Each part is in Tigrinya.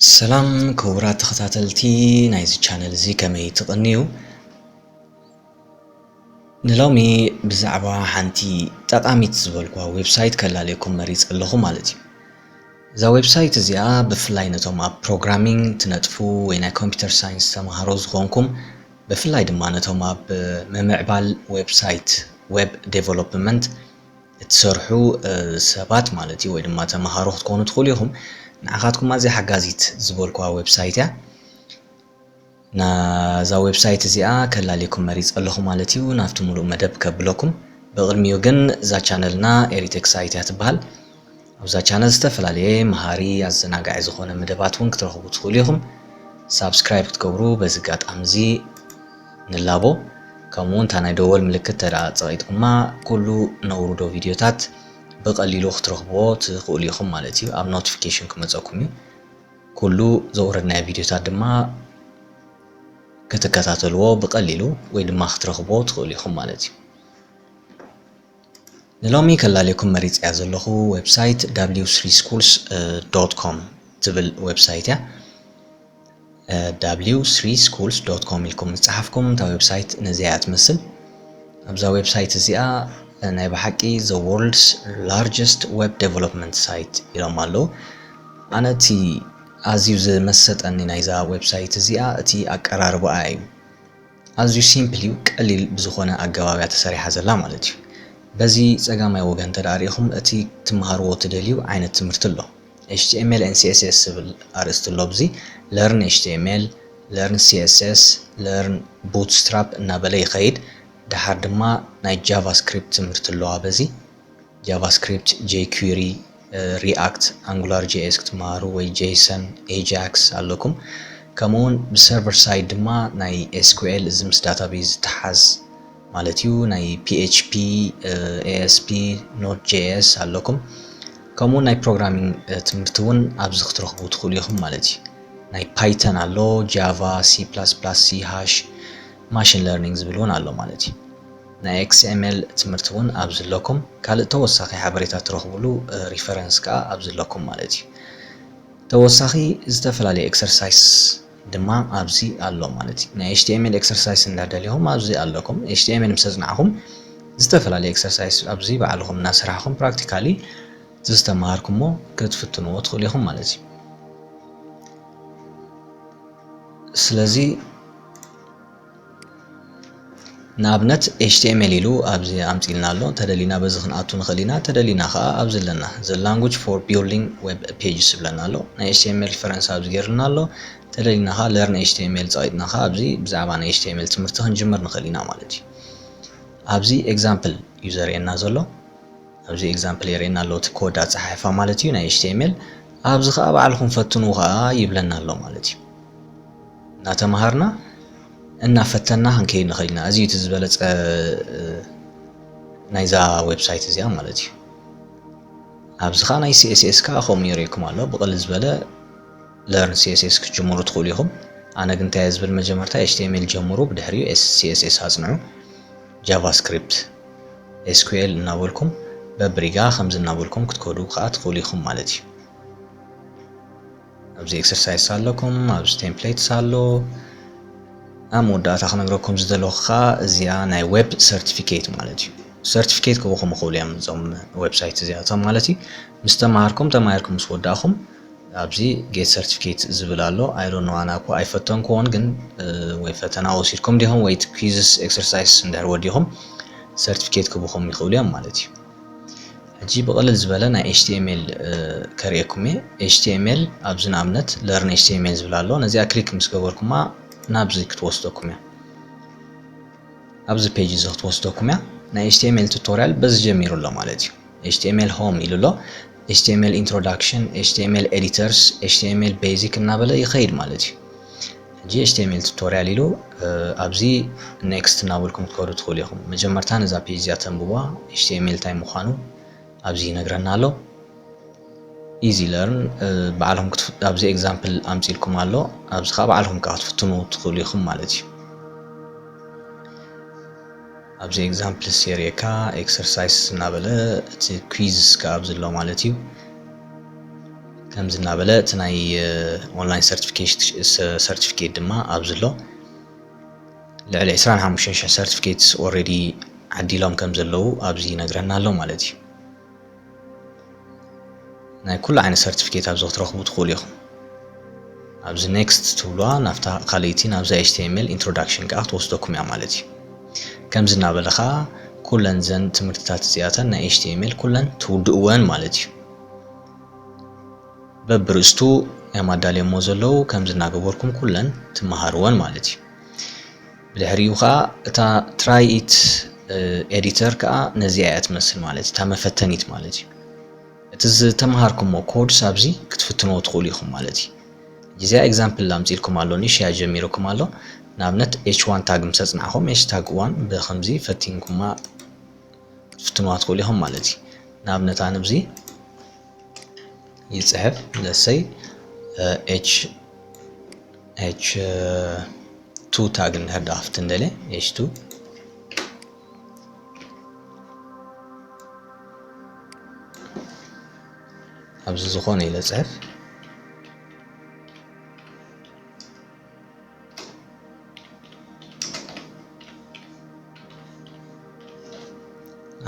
ሰላም ክቡራት ተኸታተልቲ ናይዚ ቻነል እዚ ከመይ ትቕንዩ? ንሎሚ ብዛዕባ ሓንቲ ጠቓሚት ዝበልኩዋ ዌብሳይት ከላልየኩም መሪጸ ኣለኹ ማለት እዩ። እዛ ዌብሳይት እዚኣ ብፍላይ ነቶም ኣብ ፕሮግራሚንግ ትነጥፉ ወይ ናይ ኮምፒውተር ሳይንስ ተምሃሮ ዝኾንኩም ብፍላይ ድማ ነቶም ኣብ ምምዕባል ዌብሳይት ዌብ ዴቨሎፕመንት እትሰርሑ ሰባት ማለት እዩ ወይ ድማ ተምሃሮ ክትኮኑ ትኽእሉ ኢኹም ንዓኻትኩም ኣዝያ ሓጋዚት ዝበልኩዋ ዌብሳይት እያ ናዛ ዌብሳይት እዚኣ ከላልየኩም መሪፀ ኣለኹ ማለት እዩ ናብቲ ሙሉእ መደብ ከብለኩም ብቕድሚኡ ግን እዛ ቻነልና ኤሪቴክ ሳይት እያ ትበሃል ኣብዛ ቻነል ዝተፈላለየ መሃሪ ኣዘናጋዒ ዝኾነ መደባት ውን ክትረኽቡ ትኽእሉ ኢኹም። ሳብስክራይብ ክትገብሩ በዚ ኣጋጣሚ እዚ ንላቦ። ከምኡ ውን እታ ናይ ደወል ምልክት እንተድኣ ጸቒጥኩማ ኩሉ ነውርዶ ቪድዮታት ብቐሊሉ ክትረኽብዎ ትኽእሉ ኢኹም ማለት እዩ። ኣብ ኖቲፊኬሽን ክመጸኩም እዩ። ኩሉ ዘውረድናዮ ቪድዮታት ድማ ክትከታተልዎ ብቐሊሉ ወይ ድማ ክትረኽብዎ ትኽእሉ ኢኹም ማለት እዩ። ንሎሚ ከላልየኩም መሪጸያ ዘለኹ ዌብሳይት w3schools ዶት ኮም ትብል ዌብሳይት እያ w3schools ዶት ኮም ኢልኩም ምስ ጸሓፍኩም እታ ዌብሳይት ነዚኣ እያ ትመስል ኣብዛ ዌብሳይት እዚኣ ናይ ብሓቂ ዘ ወርልድስ ላርጀስት ዌብ ዴቨሎፕመንት ሳይት ኢሎም ኣለዉ ኣነ እቲ ኣዝዩ ዝመሰጠኒ ናይዛ ዌብሳይት እዚኣ እቲ ኣቀራርባኣ እዩ ኣዝዩ ሲምፕል እዩ ቀሊል ብዝኾነ ኣገባብ እያ ተሰሪሓ ዘላ ማለት እዩ። በዚ ጸጋማይ ወገን እንተ ርኢኹም እቲ ክትመሃርዎ ትደልዩ ዓይነት ትምህርቲ ኣሎ html and css ዝብል ኣርእስቲ ኣሎ ኣብዚ Learn html Learn css Learn Bootstrap እናበለ ይኸይድ ደሓር ድማ ናይ ጃቫ ስክሪፕት ትምህርቲ ኣሎ ኣበዚ ጃቫስክሪፕት፣ ጄኩሪ፣ ሪኣክት፣ ኣንጉላር ጂኤስ ክትመሃሩ ወይ ጄይሰን፣ ኤጃክስ ኣለኩም። ከምኡውን ብሰርቨር ሳይድ ድማ ናይ ኤስኩኤል እዚ ምስ ዳታቤዝ ዝተሓዝ ማለት እዩ ናይ ፒኤችፒ፣ ኤኤስፒ፣ ኖድ ጄኤስ ኣለኩም። ከምኡውን ናይ ፕሮግራሚንግ ትምህርቲ እውን ኣብዚ ክትረኽቡ ትኽእሉ ኢኹም ማለት እዩ። ናይ ፓይተን ኣሎ፣ ጃቫ፣ ሲ ፕላስ ፕላስ፣ ሲ ሃሽ፣ ማሽን ለርኒንግ ዝብል እውን ኣሎ ማለት እዩ። ናይ XML ትምህርቲ ውን ኣብዚ ኣለኩም ካልእ ተወሳኺ ሓበሬታ ትረኽብሉ ሪፈረንስ ከኣ ኣብዚ ኣለኩም ማለት እዩ ተወሳኺ ዝተፈላለዩ ኤክሰርሳይስ ድማ ኣብዚ ኣሎ ማለት እዩ ናይ HTML ኤክሰርሳይስ እንዳደለኹም ኣብዚ ኣለኩም HTML ምስ ኣጽናዕኹም ዝተፈላለዩ ኤክሰርሳይስ ኣብዚ ባዕልኹም እናሰራሕኹም ፕራክቲካሊ እቲ ዝተማሃርኩሞ ክትፍትንዎ ትኽእሉ ኢኹም ማለት እዩ ስለዚ ንኣብነት html ኢሉ ኣብዚ ኣምጺልና ኣሎ ተደሊና በዚ ክንኣቱ ንኽእል ኢና ተደሊና ከኣ ኣብዚ ኣለና እዚ language for building web pages ዝብለና ኣሎ ናይ html ፈረንሳ ኣብዚ ገይርልና ኣሎ ተደሊና ከኣ learn html ጸቂጥና ከኣ ኣብዚ ብዛዕባ ናይ html ትምህርቲ ክንጅምር ንኽእል ኢና ማለት እዩ ኣብዚ example እዩ ዘርእየና ዘሎ ኣብዚ ኤግዛምፕል የርእየና ኣሎ እቲ ኮድ ኣጸሓሕፋ ማለት እዩ ናይ ኤችቲኤምኤል ኣብዚ ከኣ ባዕልኹም ፈትኑ ከኣ ይብለና ኣሎ ማለት እዩ እናተማሃርና እናፈተና ክንከይድ ንኽእል ኢና እዚ እቲ ዝበለጸ ናይዛ ዌብሳይት እዚኣ ማለት እዩ ኣብዚ ከዓ ናይ ሲኤስኤስ ከዓ ከምኡ የርእየኩም ኣሎ ብቕል ዝበለ ለርን ሲኤስኤስ ክትጅምሩ ትኽእሉ ኢኹም ኣነ ግን እንታይ ዝብል መጀመርታ ኤችቲኤምኤል ጀምሩ ብድሕሪኡ ሲኤስኤስ ኣፅንዑ ጃቫስክሪፕት፣ SQL እናበልኩም በብሪጋ ከምዚ እናበልኩም ክትከዱ ከኣ ትኽእሉ ኢኹም ማለት እዩ። ኣብዚ ኤክሰርሳይስ ኣለኩም፣ ኣብዚ ቴምፕሌትስ ኣሎ። ኣብ መወዳእታ ክነግረኩም ዝደለኹ ከኣ እዚኣ ናይ ዌብ ሰርቲፊኬት ማለት እዩ። ሰርቲፊኬት ክበኹም ይኽእሉ እዮም እዞም ዌብሳይት እዚኣቶም ማለት እዩ። ምስ ተማሃርኩም ተማሂርኩም ምስ ወዳእኹም ኣብዚ ጌት ሰርቲፊኬት ዝብል ኣሎ ኣይ ዶንት ኖው ኣነ እኮ ኣይፈተንክዎን ግን ወይ ፈተና ወሲድኩም ዲኹም ወይ ኩዝስ ኤክሰርሳይስ እንድሕር ወዲኹም ሰርቲፊኬት ክብኹም ይኽእሉ እዮም ማለት እዩ ሕጂ ብቕልል ዝበለ ናይ ኤችቲኤምኤል ከርእየኩም እየ ኤችቲኤምኤል ኣብዚ ንኣብነት ለርን ኤችቲኤምኤል ዝብል ኣሎ ነዚኣ ክሊክ ምስ ገበርኩማ ናብዚ ክትወስደኩም እያ ኣብዚ ፔጅ እዚ ክትወስደኩም እያ ናይ ኤችቲኤምኤል ቱቶሪያል በዚ ጀሚሩ ኣሎ ማለት እዩ ኤችቲኤምኤል ሆም ኢሉ ኣሎ ኤችቲኤምኤል ኢንትሮዳክሽን ኤችቲኤምኤል ኤዲተርስ ኤችቲኤምኤል ቤዚክ እናበለ ይኸይድ ማለት እዩ ሕጂ ኤችቲኤምኤል ቱቶሪያል ኢሉ ኣብዚ ኔክስት እናበልኩም ክትከዱ ትኽእሉ ኢኹም መጀመርታ ነዛ ፔጅ እዚኣ ተንብቧ ኤችቲኤምኤል እንታይ ምዃኑ ኣብዚ ይነግረና ኣሎ ኢዚ ለርን ባዕልኹም ክትፍ ኣብዚ ኤግዛምፕል ኣምጺልኩም ኣሎ ኣብዚ ከዓ ባዕልኹም ከዓ ክትፍትኑ ትኽእሉ ኢኹም ማለት እዩ ኣብዚ ኤግዛምፕል ሴሪካ ኤክሰርሳይስ እናበለ እቲ ኩዝ ከዓ ኣብዚ ኣሎ ማለት እዩ ከምዚ እናበለ እቲ ናይ ኦንላይን ሰርቲፊኬት ድማ ኣብዚ ኣሎ ልዕሊ ዕስራን ሓሙሽተን ሽሕ ሰርቲፊኬት ኦልሬዲ ዓዲሎም ከም ዘለዉ ኣብዚ ይነግረና ኣሎ ማለት እዩ ናይ ኩሉ ዓይነት ሰርቲፊኬት ኣብዚ ክትረኽቡ ትኽእሉ ኢኹም ኣብዚ ኔክስት ትብሉዋ ናብታ ካልይቲ ናብዛ ኤችቲኤምኤል ኢንትሮዳክሽን ከዓ ክትወስደኩም እያ ማለት እዩ ከምዚ እናበለ ከዓ ኩለን ዘን ትምህርትታት እዚኣተን ናይ ኤችቲኤምኤል ኩለን ትውድእወን ማለት እዩ በብርእስቱ እም ኣዳልየሞ ዘለዉ ከምዚ እናገበርኩም ኩለን ትመሃርወን ማለት እዩ። ብድሕሪኡ ከኣ እታ ትራይ ኢት ኤዲተር ከኣ ነዚኣ እያ ትመስል ማለት እዩ። እታ መፈተኒት ማለት እዩ። እቲ ዝተመሃርኩሞ ኮድስ ኣብዚ ክትፍትንዎ ትኽእሉ ኢኹም ማለት እዩ። ጊዜኣ ኤግዛምፕል ኣምጺልኩም ኣሎ ንሽያ ጀሚርኩም ኣሎ ንኣብነት ኤች ዋን ታግ ምስ ኣጽናዕኹም ኤች ታግ ዋን ብኸምዚ ፈቲንኩማ ክትፍትንዋ ትኽእሉ ኢኹም ማለት እዩ። ንኣብነት ኣነ ኣብዚ ይጽሕፍ ለሰይ ኤች ኤች ቱ ታግ እንድሕር ድኣ ክፍትን ደልየ ኤች ቱ ኣብዚ ዝኾነ ኢለ ጽሕፍ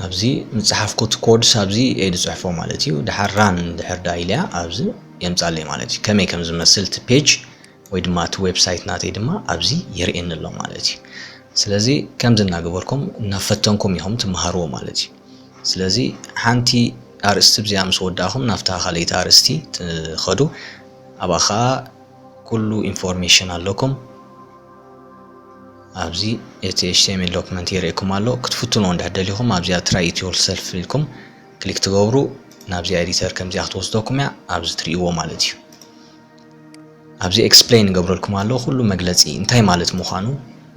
ኣብዚ ምጽሓፍኩት ኮድስ ኣብዚ እየ ዝጽሕፎ ማለት እዩ ድሓር ራን ድሕር ዳ ኢልያ ኣብዚ የምጻለይ ማለት እዩ ከመይ ከም ዝመስል እቲ ፔጅ ወይ ድማ እቲ ዌብሳይት ናተይ ድማ ኣብዚ የርእየኒ ኣሎ ማለት እዩ ስለዚ ከምዚ እናገበርኩም እናፈተንኩም ኢኹም ትመሃርዎ ማለት እዩ ስለዚ ሓንቲ ኣርእስቲ ብዚኣ ምስ ወዳእኹም ናብታ ካልኣይቲ ኣርእስቲ ትኸዱ ኣብኣ ከዓ ኩሉ ኢንፎርሜሽን ኣለኩም ኣብዚ እቲ ኤችቲኤምኤል ዶክመንት የርእየኩም ኣሎ ክትፍትንዎ እንድሕር ደሊኹም ኣብዚኣ ትራይ ኢት ዮር ሰልፍ ኢልኩም ክሊክ ትገብሩ ናብዚኣ ኤዲተር ከምዚኣ ክትወስደኩም እያ ኣብዚ ትርእይዎ ማለት እዩ ኣብዚ ኤክስፕሌን ይገብረልኩም ኣሎ ኩሉ መግለፂ እንታይ ማለት ምዃኑ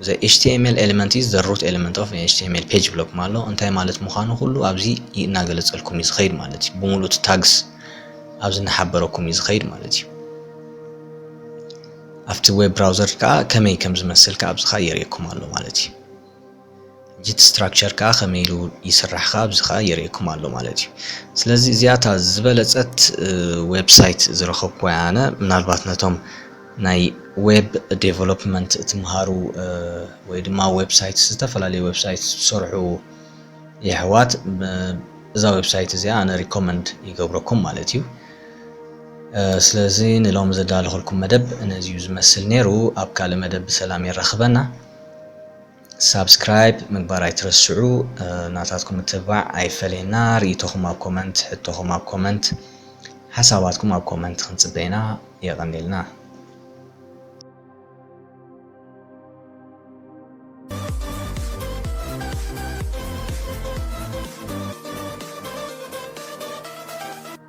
ዘ ኤችቲኤምኤል ኤለመንት ኢዝ ዘ ሩት ኤለመንት ኦፍ ኤችቲኤምኤል ፔጅ ብለኩም ኣሎ እንታይ ማለት ምዃኑ ኩሉ ኣብዚ እናገለፀልኩም እዩ ዝኸይድ ማለት እዩ ብምሉእ እቲ ታግስ ኣብዚ እናሓበረኩም እዩ ዝኸይድ ማለት እዩ ኣብቲ ዌብ ብራውዘር ከዓ ከመይ ከም ዝመስል ከዓ ኣብዚ ከዓ የርእየኩም ኣሎ ማለት እዩ ጂት ስትራክቸር ከኣ ከመይ ኢሉ ይስራሕ ከኣ ኣብዚ ከኣ የርእየኩም ኣሎ ማለት እዩ። ስለዚ እዚኣ እታ ዝበለጸት ዌብ ሳይት ዝረኸብኩዋ እያ ኣነ ምናልባት ነቶም ናይ ዌብ ዴቨሎፕመንት ትምሃሩ ወይ ድማ ዌብ ሳይት ዝተፈላለዩ ዌብ ሳይት ትሰርሑ የሕዋት እዛ ዌብ ሳይት እዚኣ ኣነ ሪኮመንድ ይገብረኩም ማለት እዩ። ስለዚ ንሎሚ ዘዳለኹልኩም መደብ ነዚዩ ዝመስል ነይሩ ኣብ ካልእ መደብ ብሰላም የራኽበና። ሳብስክራይብ ምግባር ኣይትረስዑ ናታትኩም ምትብባዕ ኣይፈለየና ሪኢቶኹም ኣብ ኮመንት ሕቶኹም ኣብ ኮመንት ሓሳባትኩም ኣብ ኮመንት ክንጽበ ኢና የቐኔልና